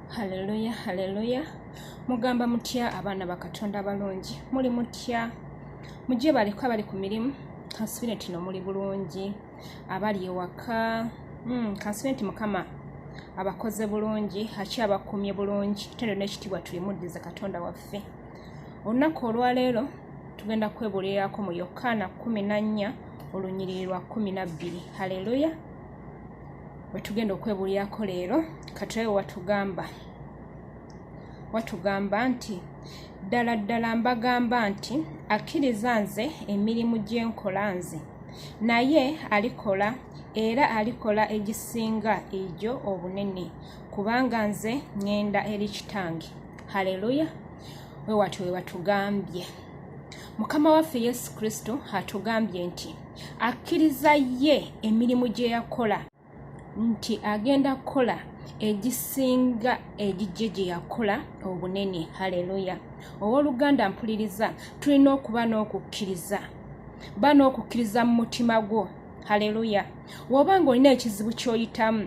haleluya haleluya mugamba mutya abaana bakatonda abalungi muli mutya mujje baleko abali ku mirimu kansubire tino muli bulungi abali ewaka hmm, kansubire nti mukama abakoze bulungi akyabakumye bulungi tendo nekitiibwa tulimuddize katonda waffe olunaku olwaleero tugenda kwebuulirako mu yokaana 14 olunyiriri lwa 12 haleluya wetugenda okwebulirako leero katulabe watugamba watugamba nti ddala ddala mbagamba nti akkiriza nze emirimu gye nkola nze naye alikola era alikola egisinga egyo obunene kubanga nze ŋŋenda eri kitange haleluya we watyo we batugambye mukama waffe yesu kristo atugambye nti akkiriza ye emirimu gye yakola nti agenda kukola egisinga egijje gye yakola obunene haleluya ow'oluganda mpuliriza tulina okuba n'okukkiriza ba n'okukkiriza mu mutima gwo haleluya woba ng'olina ekizibu ky'oyitamu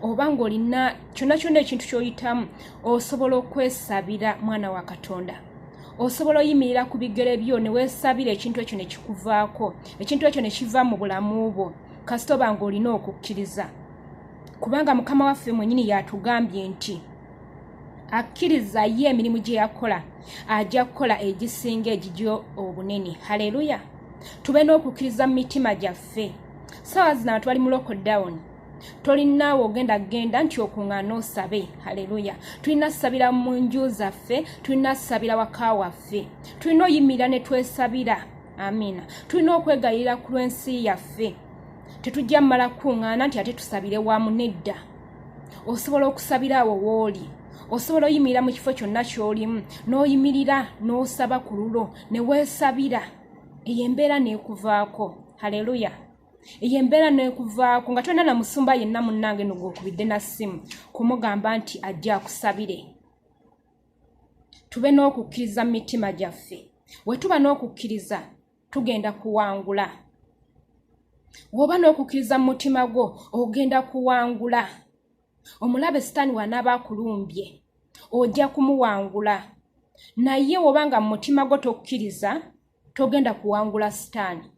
oba ng'olina kyonna kyonna ekintu ky'oyitamu osobola okwesabira mwana wa katonda osobola oyimirira ku bigere byo ne weesabira ekintu ekyo ne kikuvaako ekintu ekyo ne kiva mu bulamu bwo kasita oba nga olina okukkiriza kubanga mukama waffe mwenyini yatugambye nti akkiriza ye emirimu gye yakola ajja kukola egisinga egigyo obunene haleluya tube n'okukkiriza mu mitima gyaffe saawa zino abantu bali mu lockdown tolinaawe ogenda genda nti okuŋŋaana osabe haleluya tulina kusabira mu nju zaffe tulina kusabira waka waffe tulina oyimirira ne twesabira amiina tulina okwegayirira ku lw'ensi yaffe tetujja mumala kukuŋŋaana nti ate tusabire wamu nedda osobola okusabira awo wooli osobola oyimirira mu kifo kyonna ky'olimu n'oyimirira n'osaba ku lulo ne weesabira eyo embeera n'ekuvaako haleluya eyo embeera nekuvaako nga tolina na musumba yenna munnange nogwokubidde na ssimu kumugamba nti ajja akusabire tube n'okukkiriza mu mitima gyaffe wetuba n'okukkiriza tugenda kuwangula woba n'okukkiriza mu mutima gwo ogenda kuwangula omulabe sitaani wanaaba akulumbye ojja kumuwangula naye woba nga mu mutima gwo tokkiriza togenda kuwangula sitaani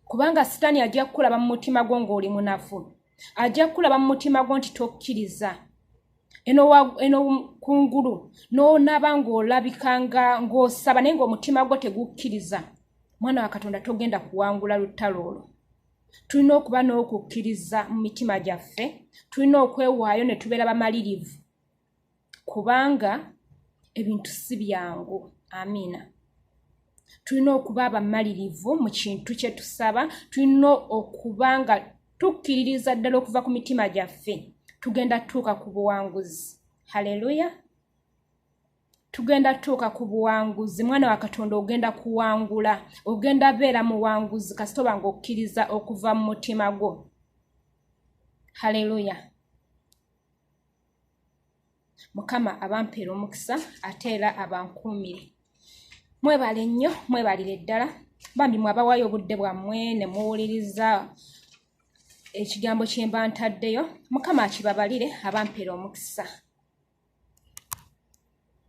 kubanga sitaani ajja kukulaba mu mutima gwo ng'oli munafu ajja kukulaba mu mutima gwo nti tokkiriza eno kungulu n'onaba ng'olabika nga ng'osaba naye ng'omutima gwo tegukkiriza mwana wa katonda togenda kuwangula lutalo olwo tulina okuba n'okukkiriza mu mitima gyaffe tulina okwewaayo ne tubeera bamalirivu kubanga ebintu si byangu amiina tulina okuba abamalirivu mu kintu kye tusaba tulina okuba nga tukkiririza ddala okuva ku mitima gyaffe tugenda tutuuka ku buwanguzi haleluya tugenda tutuuka ku buwanguzi mwana wa katonda ogenda kuwangula ogenda beera muwanguzi kasita oba ngaokkiriza okuva mu mutima gwo haleluya mukama abampeera omukisa ate era abankuumire mwebale nnyo mwebalire ddala bambi mwabawayo obudde bwammwe ne muwuliriza ekigambo kyemba ntaddeyo mukama akibabalire abampeera omukisa